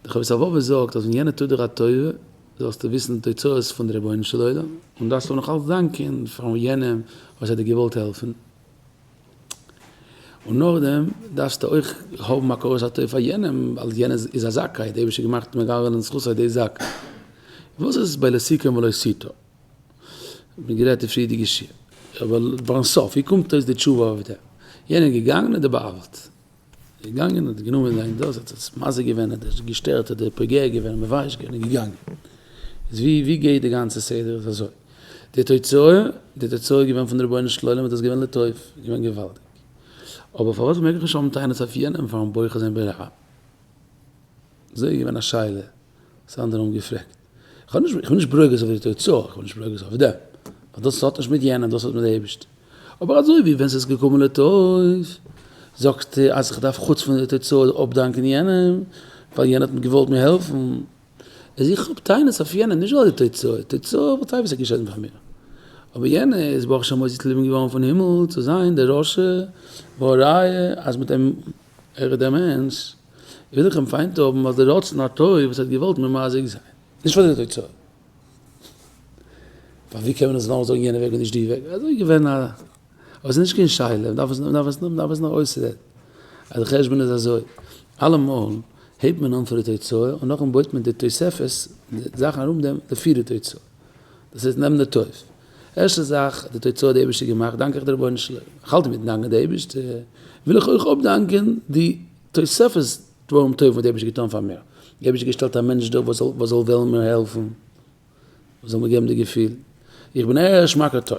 דער חובת הלבבות זאגט אז ווען יענער טוט דיר א טובה זאלסטו וויסן די תוצאות פון די רבונו של עולם און דארפסט אים נאכאלץ דאנקען פאר יענעם וואס האט דיר געוואלט העלפן און נאכדעם דארפסטו אויך האבן הכרת הטוב פאר יענעם ווייל יענער איז א זכאי, דער אייבערשטער האט געמאכט מגלגל על זכותו די זאק. וואס איז ביי לא סיכם ולא סיטה? מיר גערעדט די פריערדיגע שיעור, אבער פארן סוף ווי קומט אויס די תשובה אויף דעם? יענער איז געגאנגען און דער בעל האט ער איז געגאנגען און האט גענומען זיין דאס, האט עס מזיק געווען, האט עס געשטערט, האט ער פוגע געווען און מבייש געווען און געגאנגען. איז ווי ווי גייט די גאנצע סדר איז אזוי, די תוצאה, די תוצאה איז געווען פון די רבונו של עולם האט דאס געווען לטוב, איז געווען געוואלדיג. אבער פארוואס מעג איך נישט האבן טענות אויף יענעם פארן בוחר זיין ברע א? אזוי איז געווען א שאלה. סאיז אנדערע האבן געפרעגט איך האב נישט איך בין נישט ברוגז אויף די תוצאה איך בין נישט ברוגז אויף דעם ווייל דאס האט נישט מיט יענעם דאס האט מיט די אייבישטער אבער אזוי ווי ווען סאיז געקומען לטוב זאגסטו אז איך דארף חוץ פון די תוצאה אפדאנקען יענעם ווייל יענער האט מיט געוואלט מיר העלפן איז איך האב טענות אויף יענעם נישט ווייל די תוצאה תוצאה וואלט אייביג זיך געשעט מיט מיר אבער יענער איז ברוך השם אויסגעקליבן געווארן פון הימל צו זיין די רשע והראיה אז מיט אים ער איז דעמענס, וויל איך אים פיינט האבן אלס די רצון הטוב וואס ער האט געוואלט מיר מזיק זיין, נישט פאר די תוצאה. ווייל ווי קען מען עס נאכדעם זאגן יענע וועג און נישט די וועג, אזוי געווען א. אבער ס'איז נישט קיין שאלה, מ'דארף עס נאר אויסרעדן. אז די חשבון איז אזוי, אלעמאל הייבט מען אן פון די תוצאה און נאכדעם בויט מען די תוספות, די זאכן ארום דעם, לפי די תוצאה. דאס הייסט נעם די טוב. ערשטע זאך, די תוצאה האט די אייבישטער געמאכט, דאנק איך די רבונו של עולם. איך האלט אינמיטן דאנקען די אייבישטער, וויל איך אויך אפדאנקען די תוספות דברים טובים וואס די אייבישטער האט געטאן פאר מיר. די אייבישטער האט געשטעלט א מענטש דא וואס זאל וואס זאל וועלן מיר העלפן, וואס זאל מיר געבן די געפיל איך בין ערש מכר טוב.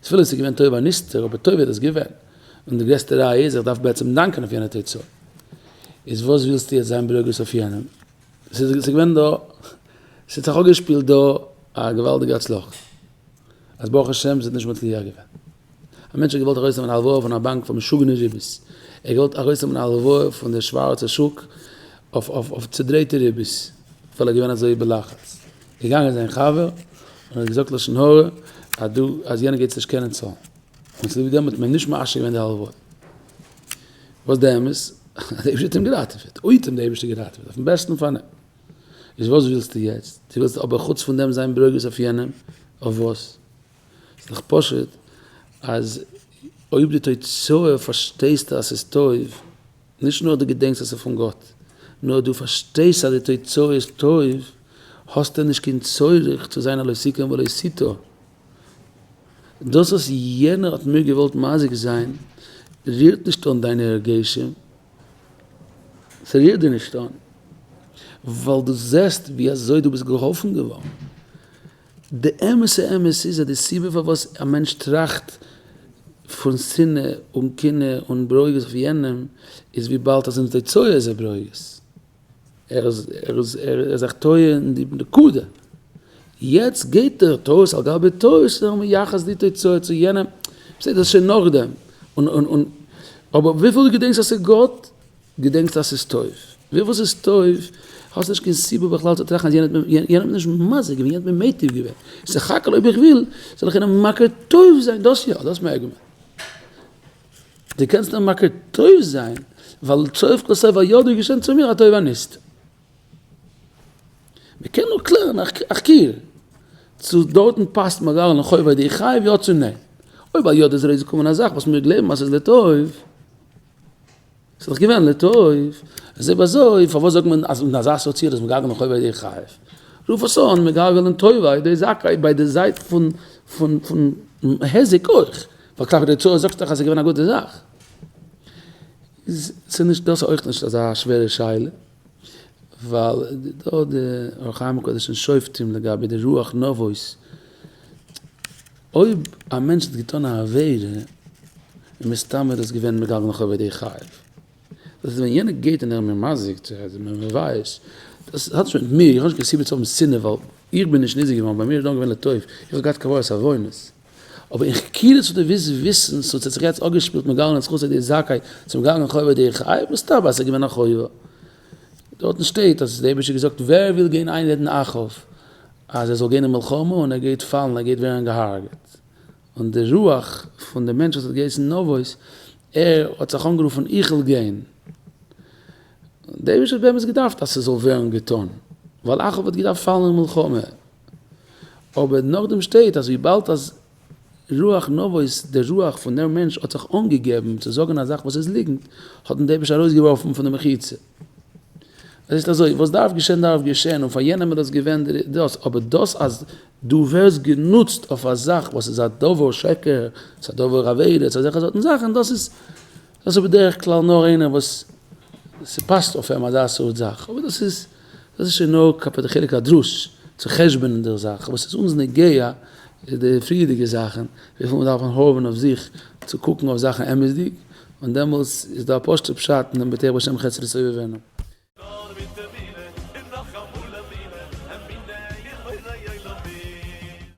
תפילות איז געווען טוב הנסתר, אבער טוב איז דאס געווען, און די גרעסטע ראיה איז איך דארף בעצם דאנקען אויף יענע תוצאה, איז וואס ווילסטו יעצט זיין ברוגז אויף יענעם? ס'איז געווען דא, ס'האט זיך אפגעשפילט דא א געוואלדיגע הצלחה, אז ברוך השם ס'האט נישט מצליח געווען. א מענטש האט געוואלט ארויסנעמען א הלוואה פון א באנק פאר משוגענע ריבית, ער האט געוואלט ארויסנעמען א הלוואה פון די שווארצע שוק אויף צודרייטע ריבית, ווייל ער איז געווען אזוי בלחץ. געגאנגען זיין חבר און האט געזאגט לשון הרע אז דו אז יענער גייט עס נישט קענען צאלן און צוליב דעם האט מען נישט מאשר געווען די הלוואות. וואס די אמת? אז די אייבערשטער האט אים געראטעוועט, אויב האט אים די אייבערשטער געראטעוועט אויפן בעסטן פאל איז וואס ווילסטו יעצט? דו ווילסט אבער חוץ פון דעם זיין ברוגז אויף יענעם? אויף וואס? ס'איז דאך פשוט אז אויב די תוצאה פארשטייסטו אז ס'איז טוב נישט נאר דו געדענקסט אז ס'איז פון גאט, נאר דו פארשטייסט אז די תוצאה איז טוב, האסטו נישט קיין צורך צו זיין א לא סיכם ולא סיטה. דאס וואס יענער האט מיר געוואלט מזיק זיין רירט נישט אן דיינע הרגשים, ס'רירט דיר נישט אן, ווייל דו זעסט ווי אזוי דו ביסט געהאלפן געווארן. די אמת'ע אמת איז אז די סיבה פארוואס א מענטש טראכט פון שנאה און קנאה און ברוגז אויף יענעם איז וויבאלד אז אין די תוצאה איז ער ברוגז. ער איז זיך טועה אין די נקודה. יעצט געבט ער טעות על גבי טעות צו זיך מייחס די תוצאה צו יענעם. בסדר, דאס איז שוין נאכדעם. אבער וויפיל דו געדענקסט אז ס'איז גאט, געדענקסט אז ס'איז טוב. ווי וואס איז טוב, האסט נישט קיין סיבה בכלל צו טראכטן אז יענער האט מיר יענער האט מיר נישט מזיק געווען, יענער האט מיר מיטיב געווען. סך הכל אויב איך וויל, זאל איך איינעם מכיר טוב זיין, דאס יא, דאס מעג מען. דו קענסט אים מכיר טוב זיין, ווייל סוף כל סוף האט יא דא געשען צו מיר א טובה ניסתר. מען קען נאר קלערן א כיל, צו דארטן פאסט מאראל און חובת די חייב יא צו ניין. אויב א יוד איז רעדי צו קומען א זאך וואס מיר גלייבן אז ס'איז לטוב. ס'איז דאך געווען לטוב, אז אויב אזוי פארוואס זאגט מען אז אין אזא סוציער איז מגלגל אין חוב על ידי חייב? רוף עס אן מגלגל אין טובה על ידי זכאי ביי די זייט פון פון פון היזק אויך, ווייל כלפי די צואה זאגסטו דאך אז ס'איז געווען א גוטע זאך. איז ס'נישט דאס אויך נישט אזא שווערע שאלה. ווייל דא האט דער אור החיים הקדוש אין שופטים לגבי די רוח נבות, אויב א מענטש האט געטאן א עבירה און מסתם ער איז געווען מגלגל נאך עובד די חייב, דאס איז ווען יענער געט און ער איז ממזג צו ער איז מבייש, דאס האט נישט מיט מיר, איך האב נישט קיין סיבה צו האבן שנאה ווייל איך בין נישט נזהר געווארן, ביי מיר איז דאן געווען לטוב, איך האב געהאט קבלת עוונות. אבער אין חקירות האט ער וויסט וויסען סאו ס'האט זיך יעצט אפגעשפילט מיט גאלען זכות אדער זכאי צום גאלען חובה אדער חייב מסתבר אז ס'איז געווען א חובה דארטן שטייט אז דער אייבישטער האט געזאגט ווער וויל גיין איינרעדן אחאב אז ער זאל גיין אין מלחמה און ער גייט פאלן ער גייט ווערן געהארגעט און די רוח פון די מענטש וואס האט געהייסן נבוס ער האט זיך אנגערופן איך וויל גיין דער אייבישטער האט באמת געדארפט אז ס'זאל ווערן געטון ווייל אחאב האט געדארפט פאלן אין מלחמה. אבער נאכדעם שטייט אז וויבאלד אז רוח נבואות די רוח פון דער מענטש האט זיך אנגעגעבן צו זאגן א זאך וואס איז ליגנט האט אים דער אייבערשטער ארויסגעווארפן פון די מחיצה. עס איז אזוי וואס דארף געשען דארף געשען און פאר יענעם איז דאס געווען די דאס אבער דאס אז דו ווערסט גענוצט אויף א זאך וואס איז א דבר שקר ס'איז א דבר עבירה ס'איז אזעלכע סארטן זאכן דאס איז דאס איז בדרך כלל נאר איינער וואס ס'פאסט אויף אים אזא סארט זאך, אבער דאס איז דאס איז שוין נאר כלפי די חלק הדרוש, צו חשבונ'ן די זאך, וואס איז אונז נוגע איז די פריערדיגע זאכן, וויפיל מ'דארף האבן אויף זיך צו קוקן אויף זאכן אמת'דיג, און דעמאלטס איז דא א פשוט'ע פשט אין דעם בטח בשם חסד לסובבינו. נאר מיט אמונה, און נאכאמאל אמונה, אמונה אין בורא עולמים.